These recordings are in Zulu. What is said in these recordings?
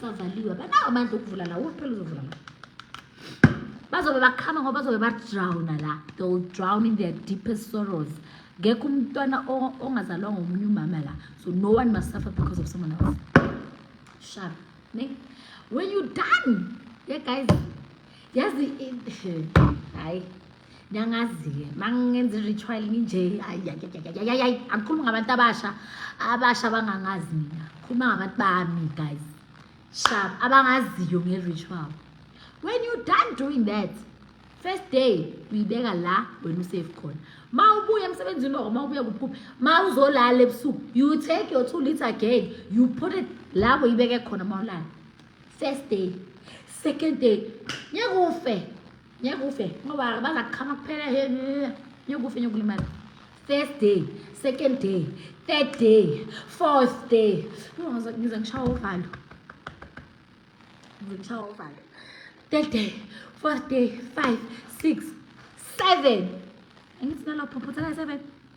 savaliwe banawo amandla okuvula la uphela uzovula la bazobe bakhama ngoba bazobe badrowna la they will drown in their deepest sorrows ngekho umntwana ongazalwa ngomunye umama la so no one must suffer because of someone else sharp ne when you done yeah guys yazi hayi ngiyangazi-ke uma ngenza i-ritual nginje ayi angikhulumi ngabantu abasha abasha abangangazi mina khuluma ngabantu bami guys shab abangaziyo nge-ritual when you done doing that first day uyibeka la wena usafe khona ma ubuya emsebenzini oko ma ubuya kuphupha ma uzolala ebusuku you take your two liter gag you put it la uyibeke khona ma ulala first day second day ngeke ufe ngeke ufe ngoba bazaqhama kuphela he ngeke ufe ngeke ulimala first day second day third day fourth day ngize ngishawa uvalo ngize ngishawa uvalo third day fourth day five six seven angithi nalopho phutha seven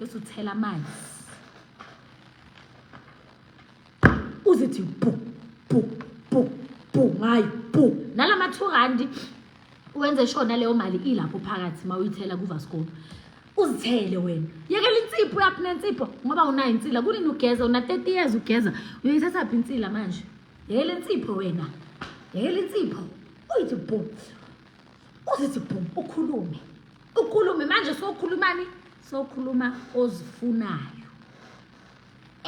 bese uthela amanzi uzithi bu bu bu bu ngayo bu nala ma-two randi wenze sure naleyo mali ilapho phakathi uma uyithela kuvaskop uzithele wena yekela insipho yakho nensipho ngoba unayo insila kunini ugeza una-thirty years ugeza uyoyithathaphi insila manje yekela insipho wena yekela insipho uyithi bhum uzithi bhum ukhulume ukhulume manje sokhulumani sokhuluma ozifunayo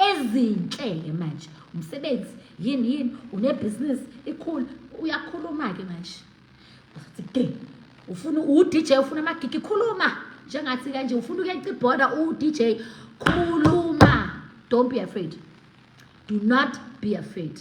ezinhle-ke manje umsebenzi yini yini unebhizinisi ikhulu uyakhuluma-ke manje uzothi ufuna u-dj ufuna amagigi khuluma njengathi kanje ufuna ukuyeca ibhoda u-dj khuluma don't be afraid do not be afraid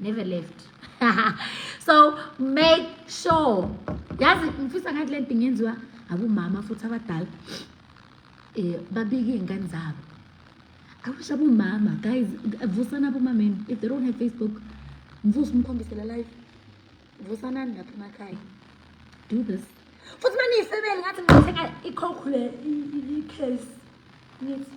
never left so make sure yazi ngifisa ngathi lento ingenziwa abomama futhi abadala eh babike ingane zabo I wish abomama guys vusana abomameni if they don't have Facebook mvusa umkhombise la live vusanani lapha emakhaya do this futhi uma niyifebele ngathi ngithenga ikhokhu le i-case ngithi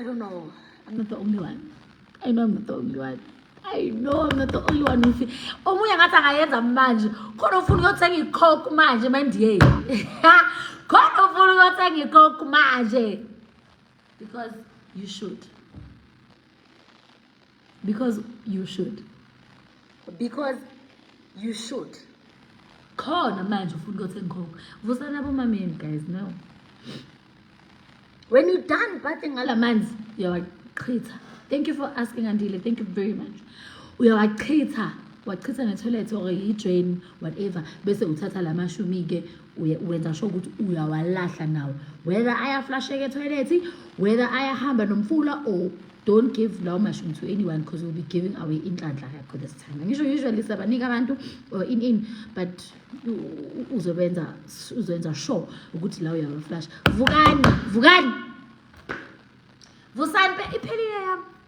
I don't know. I'm not the only one. I know I'm not the only one. I know I'm not the only one who feel. Omunye ngathi angayenza manje. Khona ufuna ukuyothenga icoke manje mandiye. Khona ufuna ukuyothenga icoke manje. Because you should. because you should because you should khona manje ufuna ukuthi ngikhokhe vusana abomameni guys no when you done bathing ngala manzi uyawachitha thank you for asking andile thank you very much uyawachitha wachitha netoilet or yidrain whatever bese uthatha la mashumi-ke wenza sho ukuthi uyawalahla nawo whether ayaflasheka etoilet whether ayahamba nomfula or don't give lawo mashumi to anyone because you'll be giving away inhlanhla yakho this time ngisho usually siyabanika abantu or in in but uzobenza uzoyenza sure ukuthi la uyawaflash vukani vukani vusani iphelile yami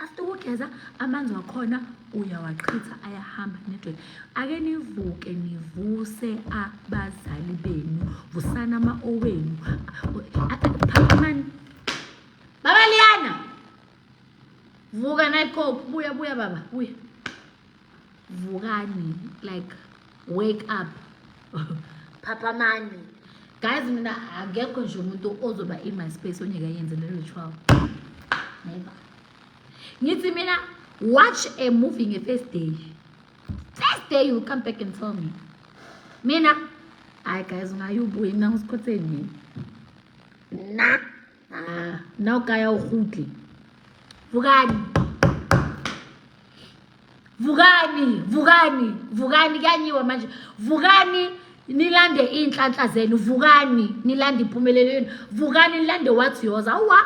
after ukugeza amanzi wakhona uyawaqhitha ayahamba nedwele ake nivuke nivuse abazali benu vusana ama-owenu phakamani baba liyana vuka nayikophu buya buya baba buya vukani like wake up phaphamani guys mina akekho nje umuntu ozoba in my space onyeke yenze le ritual never ngithi mina watch a movie nge-first day first day you come back and tell me mina hayi guys ungayubuye mina ngisikhotheni na Ah, nna o kaya o gutle vukani vukani vukani vukani kuyanyiwa manje vukani nilande iy'nhlanhla zenu vukani nilande impumelelo yenu vukani nilande wathi yoza awa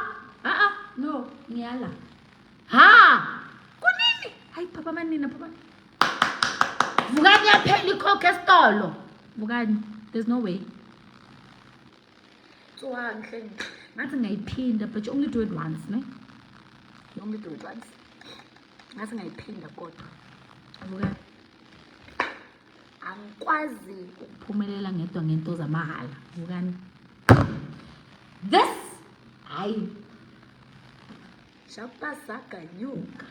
a-a no ngiyala ha kunini hayi phapha amanina phapha vukani yaphela ikhokho esitolo vukani there's no way Tswang hle nje. Ngathi ngayiphinda but you only do it once, ne? You only do it once. Ngathi ngayiphinda kodwa. Abuka. Angikwazi ukuphumelela ngedwa ngento zamahhala. Bukani. This hayi. Shapa saganyuka.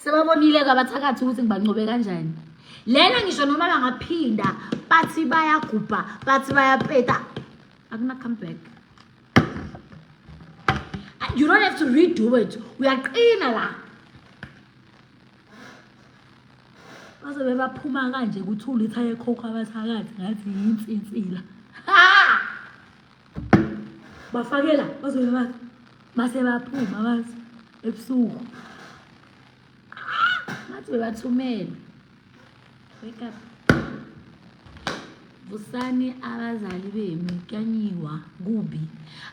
Sebabonile ke abathakathi ukuthi ngibancobe kanjani. Lena ngisho noma bangaphinda bathi bayagubha, bathi bayapeta. Akuna come back. You don't have to redo it. Uyaqina la. Bazobe baphuma kanje kuthula ithaye khokho abathakathi ngathi yinsinsila. Ha! bafakela bazobe bathi base baphuma bathi ebusuku ngathi bebathumele wake up vusani abazali benu kyanyiwa kubi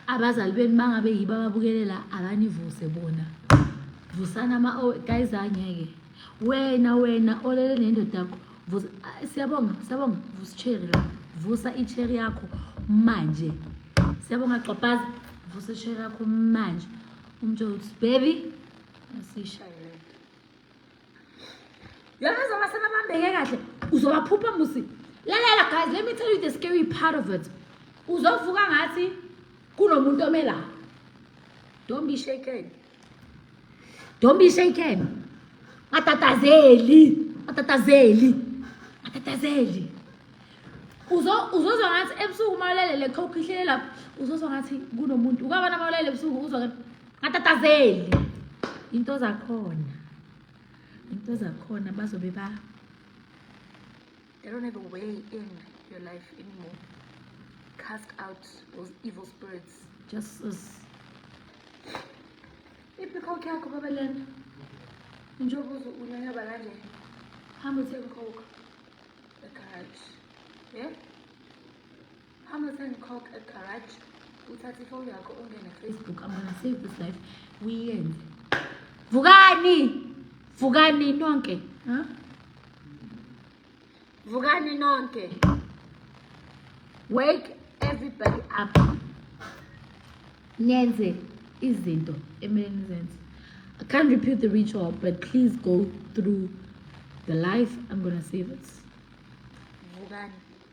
abazali benu bangabe yibo ababukelela abanivuse bona vusani ama-guys angeke wena wena olele nendoda yakho Vusa, ah, siyabonga siyabonga vusa icherry la vusa icherry yakho manje siyabonga gxobhaza vusa icherry yakho manje umtsho uthi baby asishayele yona zoba sebabambeke kahle uzobaphupha musi lalela guys let me tell you the scary part of it uzovuka ngathi kunomuntu omela don't be shaken Don't be shaken. Matatazeli. Matatazeli. Matatazeli. Uzo uzozwa ngathi ebusuku mawulele le coke ihlele lapho uzozwa ngathi kunomuntu ukabana mawulele ebusuku uzwa ngathi matatazeli into zakhona into zakhona bazobe ba They don't have a way in your life anymore. Cast out those evil spirits. Jesus. Ipikhoki yakho baba lento. Njengoba unyanyaba kanje. Hamba uthenga ikhokho. Egarage. Yeah? Hamba sengikhokha egarage uthathe ifoni yakho ungene Facebook I'm gonna save this life uyenze. Vukani! Vukani nonke. Huh? Vukani nonke. Wake everybody up. Nenze izinto ekumele nizenze. I can't repeat the ritual, but please go through the life. I'm gonna save it. Vukani.